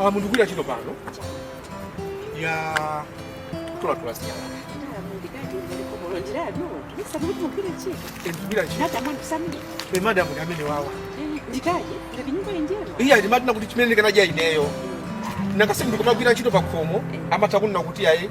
Ah, mundikugwira ntchito pano ya kutolatola zinyalala ndikugwira ntchito e madam ndi amenewawa iye adati madina kuti chimene ndikanaja ineyo nanga si ndikumagwira ntchito pakhomo amatha kunena kuti ayi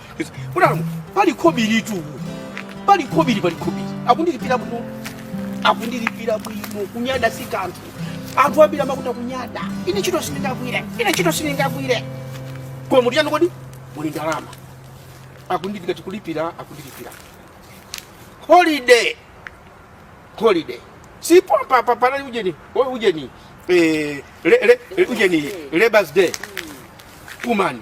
Alamu, pali khobiri tu. Pali khobiri, pali khobiri. Akundilipira bwino. Akundilipira bwino. Kunyada si kanthu. Anthu ambiri amakhuta kunyada. Ine ntchito sindingagwire. Ine ntchito sindingagwire. Koma mudyanji kodi? Muli ndalama. Akundilipira tikulipira, akundilipira. Holiday. Holiday. Si pompa papa nani ujeni? Wewe ujeni. Eh, le, le, ujeni. Labour's Day. Kumani.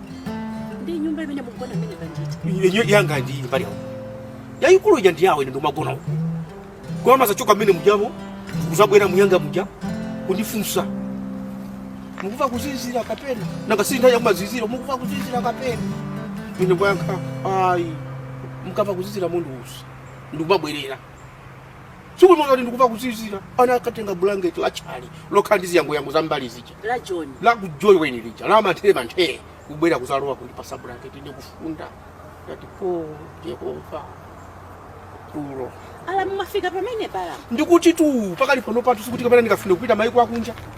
ndi nyumba imene mukugona imene kanjita inyo yanga ndi mbali yako yayikulu ija ndi yawo ine ndikumagona uko koma amazachoka mmene mujamo kuzabwera mnyumba muja kundifunsa mukumva kuzizira kapena nanga si nthawi yakumazizira mukumva kuzizira kapena ine kuyankha ayi mukamva kuzizira mundiuze ndikumabwerera tsiku limodzi ndati ndikumva kuzizira anakatenga bulangeti lachale lokhala ndi ziyangoyango za mbali zija la john la kujoni ujeni lija la manthere manthere kubwera kuzalowa kundipasa bulangeti ine kufunda ndati o Yehova tulo alamu mafika pamenepa alamu ndikutitu pakali pano pathu sikuti kapena ndingafune kupita maiko akunja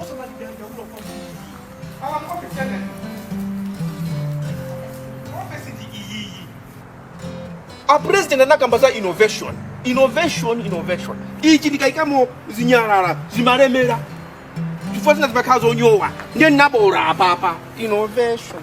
osamadandaula kwambiri awa muofesi yanani ofesi ndi iyiyi a president anakamba za innovation innovation innovation ichi ndikayikamo zinyalala zimalemera chifukwa zina zimakhala zonyowa ndiye ndinabola apapa innovation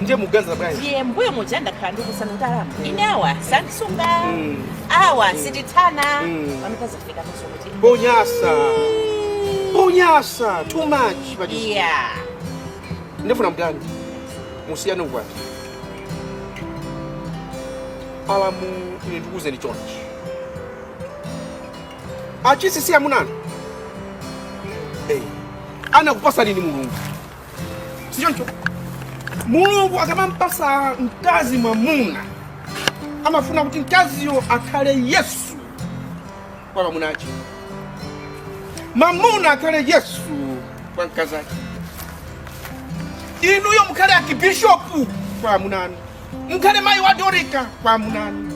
ndiye muganiza bwanji ndiye mbuyo muja ndakhala ndikukuuzani kuti alamu ine awa sandisunga Mm. awa sindithana Mm. pamene zafika kuti ponyasa ponyasa too much but it's- iya ndifuna mutani musiyane ukwati alamu ine ndikuuzeni chonchi achisisi amuna anu hey. anakupasani ndi mulungu sichoncho mulungu akamampasa mkazi mwamuna amafuna kuti mkaziyo akhale yesu kwa mwamuna wache mwamuna akhale yesu kwa mkazi wache inuyo mukhale akibishopu kwa amuna anu mukhale mayi wa dorika kwa amuna anu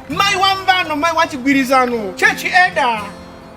mayi wa mvano mayi wa chigwirizano chechi elda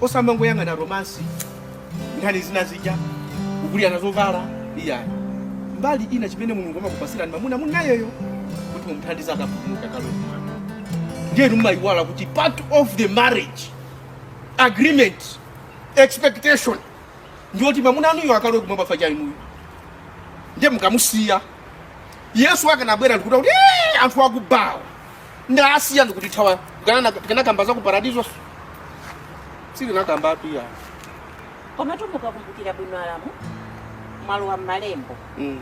osamangoyang'ana romance nkhani zina zija kugulirana zovala iyayi mbali ina chimene mulungu anakupasirani mamuna muli nayeyo kuti mumuthandize akapulumuke kalowa mwana ndiye mumaiwala kuti part of the marriage agreement expectation ndiyoti mamuna wanuyo akalowe kumwamba chifukwa cha inuyo ndiye mukamusiya yesu akadzabwera ndikuti kuti "Eh, anthu akuba awa ndasiya ndikutithawa tikamakamba za ku paradiso sitinakambetu iyayi koma tu mukakumbukira bwino alamu mwalowa m'malembo Mm,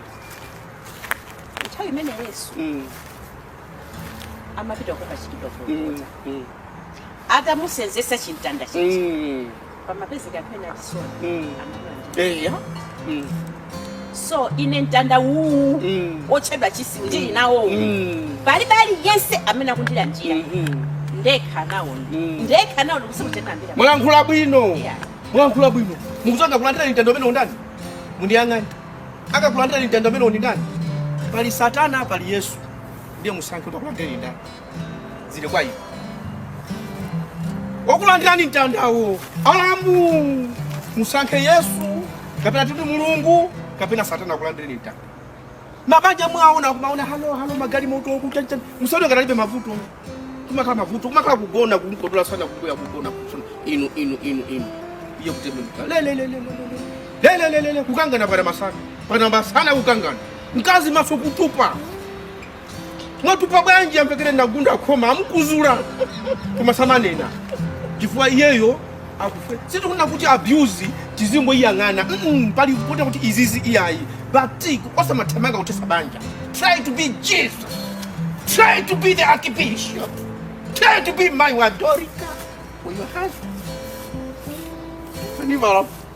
nthawi imene yesu mm, amapita kukachitidwa mm, kulukota mm, atamusenzesa chimtanda chija mm. panapezeka anthu ena achisoni Mm. anamulandira eya Mm. so ine mtanda uwu Mm. otchedwa chisilu ndili nawo Mm. palibe aliyense amene akundilandira Mhm. ndekha nawo Mm. ndekha nawo ndikusakutenambira mwalankhula bwino Yeah. mwalankhula bwino mukuti akakulandira mtanda umenewu ndani mundiyang'ane akakulandira mtanda umenewu ndi ndani pali satana pali yesu ndiye musankhe kuti akulandire ndani zili kwa inu okulandirani mtandawo alamu musankhe yesu kapena titi mulungu kapena satana akulandireni mtanda mabanja mwaona kumaona halo halo magalimoto kuchacha musaone ngati alibe mavuto kumakhala mavuto kumakhala kugona kumkodola msana kukuya kugona kusona inu inu inu inu iye kutembenuka lelelelelelelelelelele kukangana pana masana pana masana kukangana mkazi maso kutupa mwatupa bwanji amvekere ndagunda khoma akumuzula koma samanena chifukwa iyeyo akufe sitikufuna kutu abuse tizingoyang'ana mm, pali kuona kuti izizi iyayi but osamathamanga kuthesa banja try to be jesus try to be the archbishop try to be my wadorika for your husband Leave her alone.